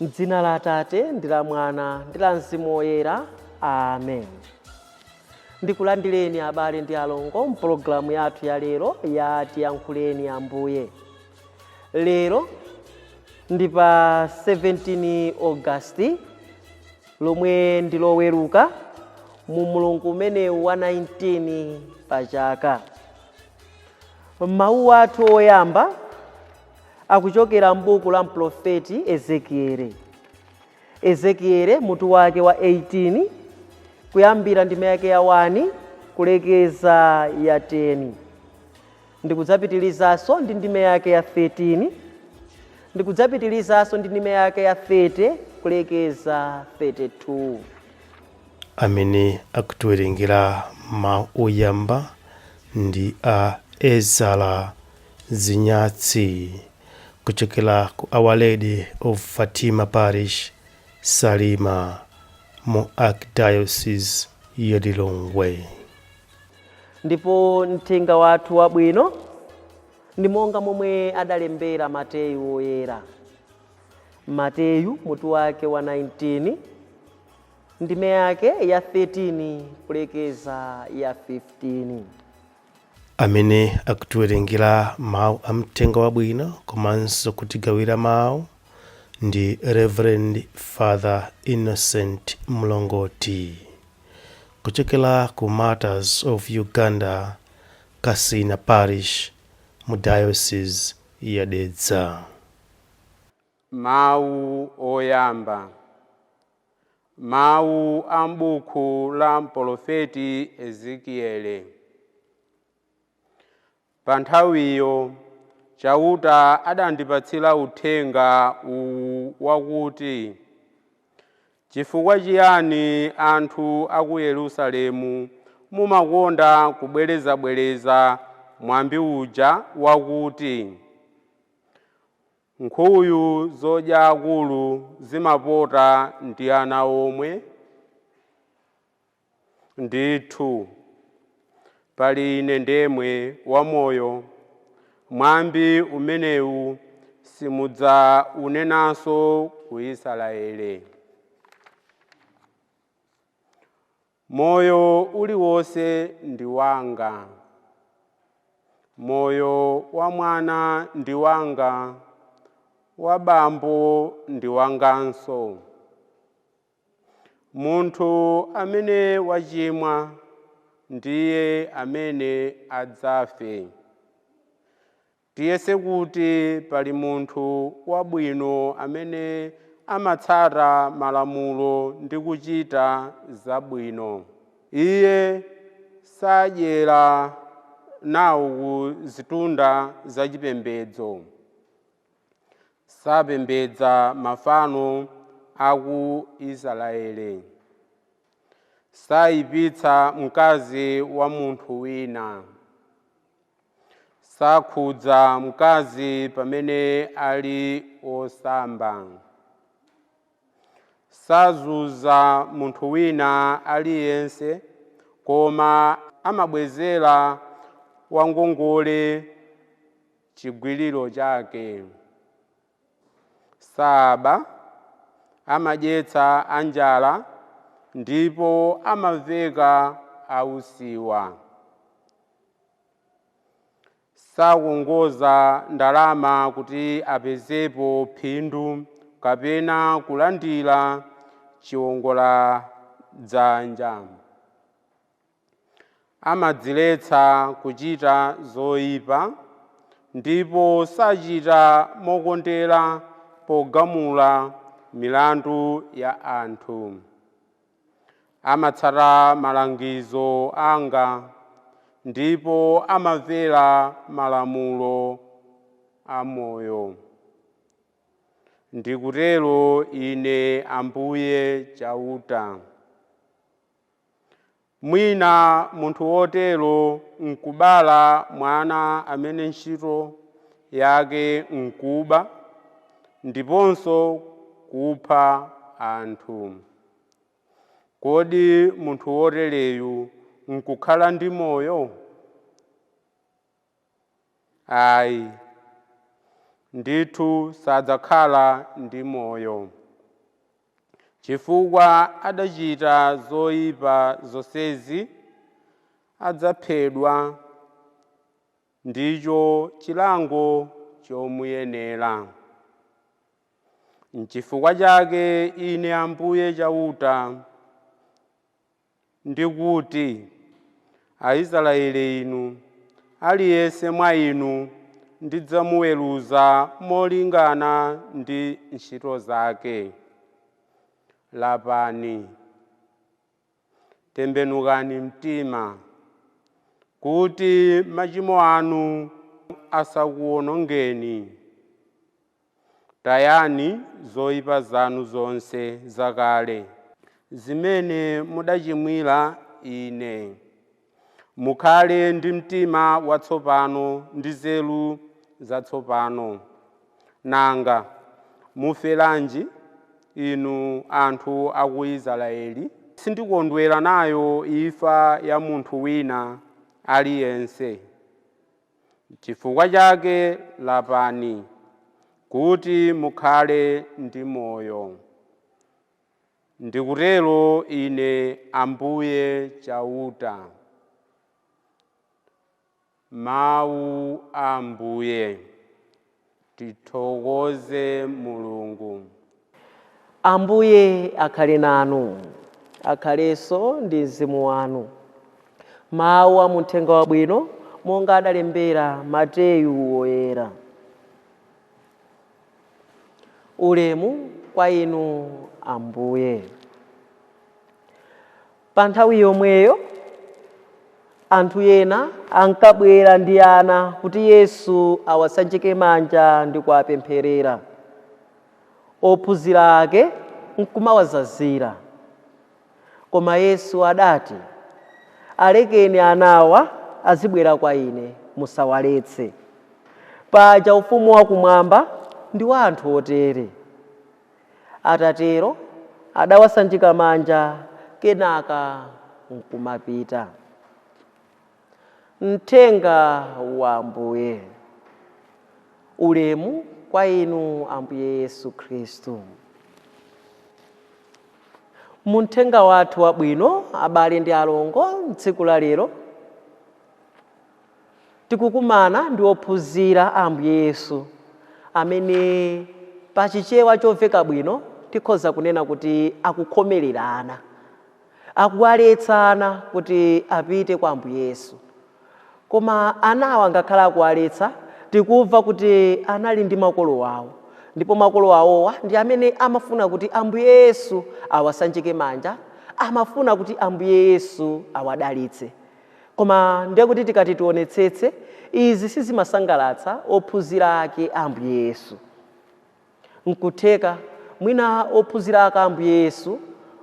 M'dzina la Atate ndi la Mwana ndi la Mzimu Woyera. Amen. Ndikulandireni abale ndi alongo mpologalamu yathu ya lero ya tiyankhuleni Ambuye. Lero ndi pa 17 August lomwe ndi Loweruka mu mlungu umenewu wa 19 pa chaka. Mawu athu oyamba akuchokera m'buku la mprofeti Ezekiele. Ezekiele mutu wake wa 18 kuyambira ndime yake ya 1 kulekeza ya 10. Ndikudzapitilizaso ndi ndime yake ya 13, ndikudzapitilizaso ndi ndime yake ya 30 kulekeza 32. Amene akutiwerengera mawu oyamba ndi a Ezara Zinyatsi kuchokera ku Our Lady of Fatima Parish, Salima mu Archdiocese ya Lilongwe. Ndipo mthenga wathu wabwino ndi monga momwe adalembera Mateyu Woyera. Mateyu mutu wake wa 19 ndime yake ya 13 kulekeza ya 15. amene akutiwerengera mawu a mthenga wabwino komanso kutigawira mawu ndi reverend father innocent mlongoti Kuchokera ku Martyrs of Uganda, Kasina Parish, mu Diocese ya Dedza. Mawu Oyamba Mawu a m'buku la mpolofeti Ezekiele. Pa nthawiyo, Chauta adandipatsira uthenga uwu wakuti, Chifukwa chiyani anthu a ku Yerusalemu mumakonda kubwerezabwereza mwambi uja wakuti, Nkhuyu zodya akulu zimapota ndi ana omwe? Ndithu, pali Ine ndemwe wamoyo, mwambi umenewu simudzaunenanso ku Isaraele. Moyo uliwonse ndi wanga, moyo wa mwana ndi wanga, wa bambo ndi wanganso. Munthu amene wachimwa ndiye amene adzafe. Tiyese kuti pali munthu wabwino amene amatsata malamulo ndi kuchita zabwino. Iye sadyera nawo ku zitunda zachipembedzo. Sapembedza mafano a ku Isiraeli. Saipitsa mkazi wa munthu wina. Sakhudza mkazi pamene ali osamba. Sazunza munthu wina aliyense koma amabwezera wangongole chigwiriro chake. Saaba amadyetsa anjala ndipo amaveka ausiwa. Sakongoza ndalama kuti apezepo phindu kapena kulandira chiwongoladzanja. Amadziletsa kuchita zoipa ndipo sachita mokondera pogamula milandu ya anthu. Amatsata malangizo anga ndipo amamvera malamulo a moyo. Ndikutero Ine Ambuye Chauta. Mwina munthu wotero n'kubala mwana amene ntchito yake n'kuba ndiponso kupha anthu. Kodi munthu wotereyu n'kukhala ndi moyo? Ayi. Ndithu sadzakhala ndi moyo, chifukwa adachita zoipa zonsezi, adzaphedwa, ndicho chilango chomuyenera. Nchifukwa chake Ine Ambuye Chauta ndikuti, Aisraeli inu, aliyense mwa inu ndidzamuweruza molingana ndi ntchito zake. Lapani, tembenukani mtima, kuti machimo anu asakuwonongeni. Tayani zoipa zanu zonse zakale, zimene mudachimwira Ine. Mukhale ndi mtima watsopano ndi nzeru zatsopano. Nanga muferanji, inu anthu a ku Israyeli? Sindikondwera nayo imfa ya munthu wina aliyense. Nchifukwa chake lapani, kuti mukhale ndi moyo. Ndikutero Ine Ambuye Chauta. Mau a Ambuye. Tithokoze Mulungu. Ambuye akhale nanu. Akhalenso ndi mzimu wanu. Mawu a mu Mthenga Wabwino monga adalembera Mateyu Woyera. Ulemu kwa Inu Ambuye. Pa nthawi yomweyo, anthu ena ankabwera ndi ana kuti Yesu awasanjike manja ndi kuwapempherera. Ophunzira ake n'kumawazazira. Koma Yesu adati, Alekeni anawa azibwera kwa Ine, musawaletse. Paja Ufumu wakumwamba ndi wa anthu otere. Atatero adawasanjika manja kenaka nkumapita. Mthenga wa Ambuye. Ulemu kwa Inu Ambuye Yesu Khristu. Mu mthenga wathu wabwino, abale ndi alongo, m'tsiku la lero tikukumana ndi ophunzira a Ambuye Yesu amene pa Chichewa chomveka bwino tikhoza kunena kuti akukhomerera ana, akuwaletsa ana kuti apite kwa Ambuye Yesu. Koma anawa ngakhale akuwaletsa, tikumva kuti anali ndi makolo awo ndipo makolo awowa ndi amene amafuna kuti Ambuye Yesu awasanjike manja, amafuna kuti Ambuye Yesu awadalitse. Koma ndiye kuti tikati tionetsetse, izi sizimasangalatsa ophunzira ake a Ambuye Yesu. Nkutheka mwina ophunzira ake a Ambuye Yesu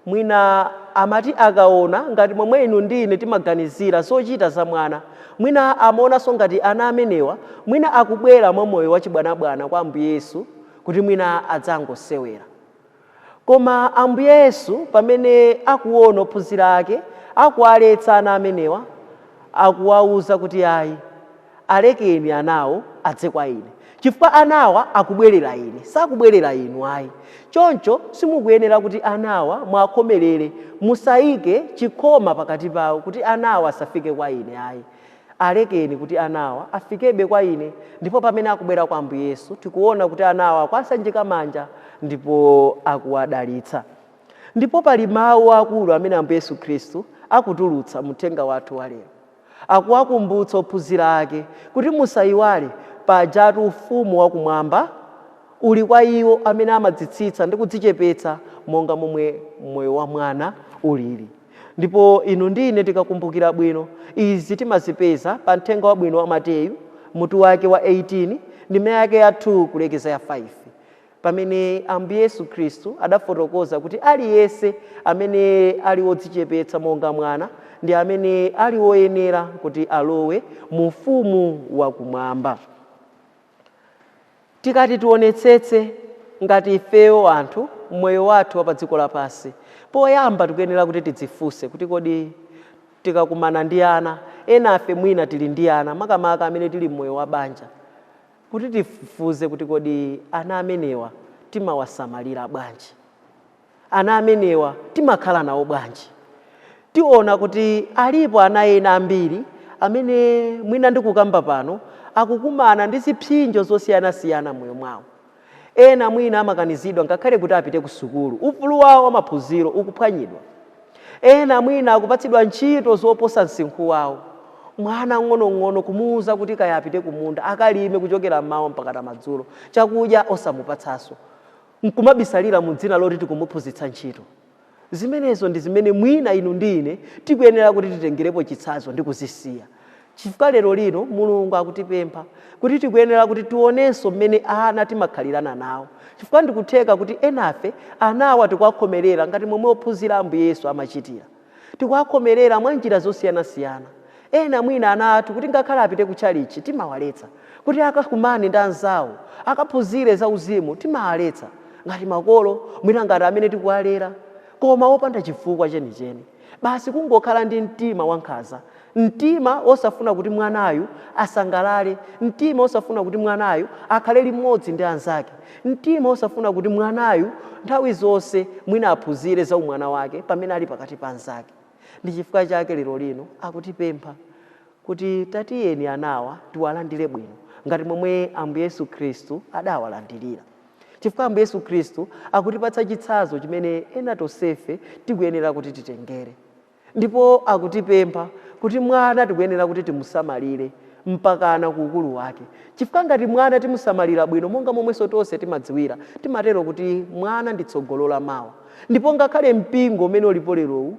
mwina amati akaona ngati momwe inu ndi ine timaganizira zochita za mwana, mwina amaonanso ngati ana amenewa mwina akubwera mwa moyo wachibwanabwana kwa Ambuye Yesu kuti mwina adzangosewera. Koma Ambuye Yesu, pamene akuwona ophunzira ake akuwaletsa ana amenewa, akuwauza kuti, Ayi, alekeni anawo adze kwa Ine. Chifukwa anawa akubwerera Ine, sakubwerera inu ayi. Choncho simukuyenera kuti anawa muwakhomerere, musaike chikhoma pakati pawo kuti anawa asafike kwa Ine ayi. Alekeni kuti anawa afikebe kwa ine. Ndipo pamene akubwera kwa Ambuye Yesu, tikuwona kuti anawa akuwasanjika manja ndipo akuwadalitsa. Ndipo pali mawu akulu amene Ambuye Yesu Khristu akutulutsa mu uthenga wathu wa lero. Akuwakumbutsa ophunzira ake kuti musayiwale, pajatu ufumu wa kumwamba uli kwa iwo amene amadzitsitsa ndi kudzichepetsa monga momwe moyo wa mwana ulili. Ndipo inu ndi ine tikakumbukira bwino, izi timazipeza pa Mthenga Wabwino wa Mateyu, mutu wake wa 18, ndime yake ya 2 kulekeza ya 5, pamene Ambuye Yesu Khristu adafotokoza kuti aliyense amene ali wodzichepetsa monga mwana ndi amene ali woyenera kuti alowe mu Ufumu wa Kumwamba. Tikati tionetsetse ngati ifeyo anthu moyo wathu wapadziko lapansi, poyamba tikuyenera kuti tidzifunse kuti kodi tikakumana ndi ana, enafe mwina tili ndi ana makamaka amene tili mmoyo wa banja, kuti tifufuze kuti kodi ana amenewa timawasamalira bwanji? ana amenewa timakhala nawo bwanji? Tiona kuti alipo ana ena ambiri amene mwina ndikukamba pano akukumana ndi zipsinjo zosiyanasiyana m'moyo mwawo. Ena mwina amakanizidwa ngakhale kuti apite kusukulu, ufulu wawo wamaphunziro ukuphwanyidwa. Ena mwina akupatsidwa ntchito zoposa msinkhu wawo. Mwana mng'onong'ono kumuuza kuti kaya apite kumunda akalime kuchokera m'mawa mpakana madzulo, chakudya osamupatsanso. n'kumabisalira mu dzina loti tikumuphunzitsa ntchito. Zimenezo ndi zimene mwina inu ndi ine tikuyenera kuti titengerepo chitsanzo ndi kuzisiya, chifukwa lerolino Mulungu akutipempha kuti tikuyenera kuti tionenso mmene ana timakhalirana nawo, chifukwa ndikutheka kuti enafe anawa tikuwakhomerera ngati momwe ophunzira a Ambuye Yesu amachitira. Tikuwakhomerera mwa njira zosiyanasiyana. Ena mwina ana athu kuti ngakhale apite kutchalitchi timawaletsa, kuti akakumane ndi anzawo, akaphunzire zauzimu timawaletsa, ngati makolo, mwina ngati amene tikuwalera, koma wopanda chifukwa chenicheni, basi kungokhala ndi mtima wankhanza Mtima wosafuna kuti mwanayu asangalale. Mtima wosafuna kuti mwanayu akhale limodzi ndi anzake. Mtima wosafuna kuti mwanayu nthawi zonse mwina aphunzire za umwana wake pamene ali pakati pa anzake. Ndi chifukwa chake lero lino akutipempha kuti tatiyeni anawa tiwalandire bwino ngati momwe Ambuye Yesu Khristu adawalandirira. Chifukwa Ambuye Yesu Khristu akutipatsa chitsanzo chimene ena tonsefe tikuyenera kuti titengere. Ndipo akutipempha kuti mwana tikuyenera kuti timusamalire mpakana ku ukulu wake. Chifukwa ngati mwana timusamalira bwino monga momwenso tonse timadziwira, timatero kuti mwana ndi tsogolo la mawa. Ndipo ngakhale mpingo umene ulipo lerowu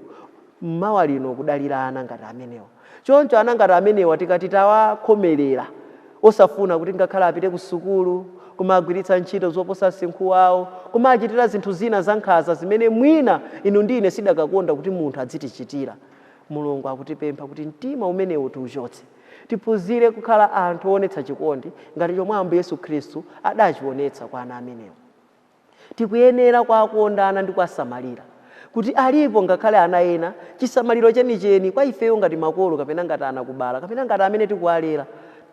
mmawa lino ukudalira ana ngati amenewa. Choncho ana ngati amenewa tikati tawakhomelera, osafuna kuti ngakhale apite kusukulu, kumawagwiritsa ntchito zoposa msinkhu wawo, kumawachitira zinthu zina zankhanza zimene mwina inu ndi ine sitidakakonda kuti munthu adzitichitira. Mulungu akutipempha kuti mtima umenewu tiuchotse. Tiphunzire kukhala anthu oonetsa chikondi ngati chomwe Ambuye Yesu Khristu adachionetsa kwa ana amenewa. Tikuyenera kuwakonda ana ndi kuwasamalira. Kuti alipo ngakhale ana ena chisamaliro chenicheni kwa ifeyo ngati makolo kapena ngati anakubala kapena ngati amene tikuwalera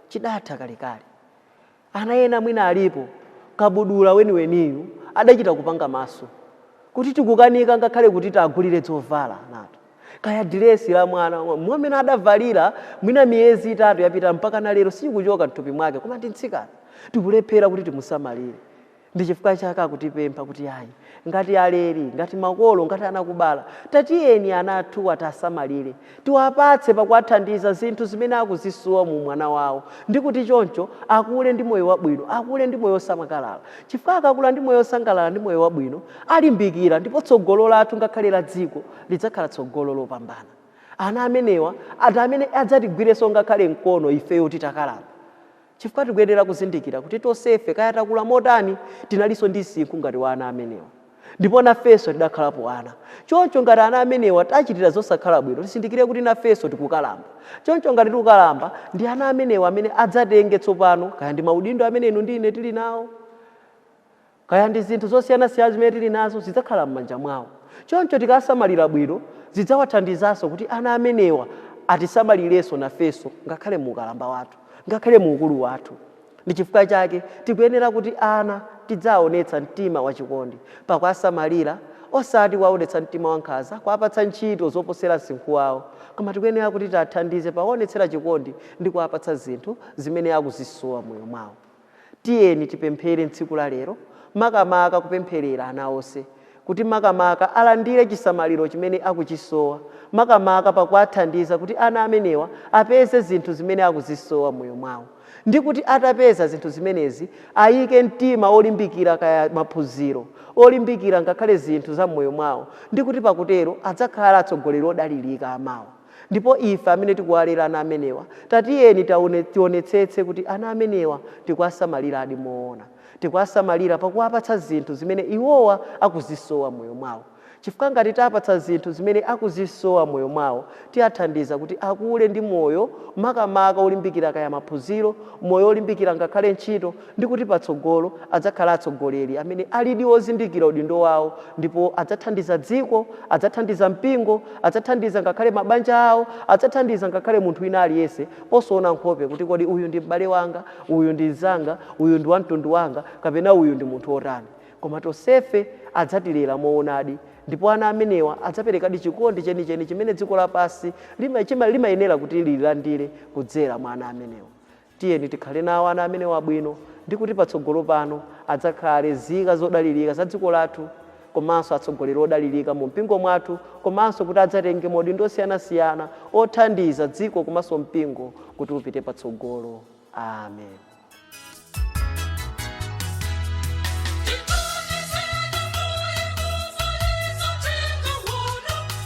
chidatha kalekale. Ana ena mwina alipo kabudula weniweniyu adachita kupanga maso kuti tikukanika ngakhale kuti tiwagulire zovala nato. Kaya diresi la mwana mwamene adavalira mwina miyezi itatu yapita mpakana lero sikuchoka mthupi mwake koma ndi mtsikana. Tikulephera kuti timusamalire. Ndi chifukwa chake akutipempha kuti ayi, ngati aleri, ngati makolo, ngati anakubala, tatiyeni ana athuwa tiasamalire, tiwapatse pakuwathandiza zinthu zimene akuzisowa mu umwana wawo ndi kuti choncho akule ndi moyo wabwino, akule ndi moyo osangalala. Chifukwa akakula ndi moyo osangalala ndi moyo wabwino, alimbikira ndipo tsogolo lathu ngakhale la dziko lidzakhala tsogolo lopambana. Ana amenewa ndi amene adzatigwirenso ngakhale mkono ifeyo titakalamba. Chifukwa tikuyenera kuzindikira kuti tonsefe, kaya takula motani, tinalinso ndi msinkhu ngati wa ana amenewa. Ndipo nafenso tidakhalapo ana. Choncho ngati ana amenewa tiwachitira zosakhala bwino, tizindikire kuti nafenso tikukalamba. Choncho ngati tikukalamba, ndi ana amenewa amene adzatenge tsopano kaya ndi maudindo amene inu ndi ine tili nawo. Kaya ndi zinthu zosiyanasiyana zimene tili nazo, zidzakhala m'manja mwawo. Choncho tikawasamalira bwino, zidzawathandizanso kuti ana amenewa atisamalirenso nafenso ngakhale mu ukalamba wathu, ngakhale mu ukulu wathu. Ndi chifukwa chake tikuyenera kuti ana tidziwaonetsa mtima wachikondi pakuwasamalira osati kuwaonetsa mtima wankhanza kuwapatsa ntchito zoposera msinkhu wawo, koma tikuyenera kuti tiwathandize pakuwaonetsera chikondi ndi kuwapatsa zinthu zimene akuzisowa m'moyo mwawo. Tiyeni tipemphere m'tsiku la lero makamaka kupempherera ana onse kuti makamaka alandire chisamaliro chimene akuchisowa makamaka pakuwathandiza kuti ana amenewa apeze zinthu zimene akuzisowa m'moyo mwawo ndi kuti atapeza zinthu zimenezi ayike mtima wolimbikira kaya maphunziro, olimbikira ngakhale zinthu za m'moyo mwawo ndi kuti pakutero adzakhala atsogoleri odalirika amawa. Ndipo ife amene tikuwalera ana amenewa, tatiyeni tionetsetse kuti ana amenewa tikuwasamaliradi moona. Tikuwasamalira pakuwapatsa zinthu zimene iwowa akuzisowa m'moyo mwawo. Chifukwa ngati tiwapatsa zinthu zimene akuzisowa m'moyo mwawo, tiwathandiza kuti akule ndi moyo makamaka olimbikira kaya maphunziro, moyo olimbikira ngakhale ntchito, ndi kuti patsogolo adzakhala atsogoleri amene alidi ozindikira udindo wawo ndipo adzathandiza dziko, adzathandiza mpingo, adzathandiza ngakhale mabanja awo, adzathandiza ngakhale munthu wina aliyense posaona nkhope kuti kodi uyu ndi m'bale wanga, uyu ndi mnzanga, uyu ndi wamtundu wanga kapena uyu ndi munthu wotani. Koma tonsefe adzatilera moonadi ndipo ana amenewa adzaperekadi chikondi chenicheni chimene dziko lapansi limayenera kuti lilandire kudzera mwa ana amenewa. Tiyeni tikhale nawo ana amenewa bwino ndi kuti patsogolo pano adzakhale nzika zodalirika za dziko lathu komanso atsogoleri odalirika mu mpingo mwathu komanso kuti adzatenge maudindo osiyanasiyana othandiza dziko komanso mpingo kuti upite patsogolo. Amen.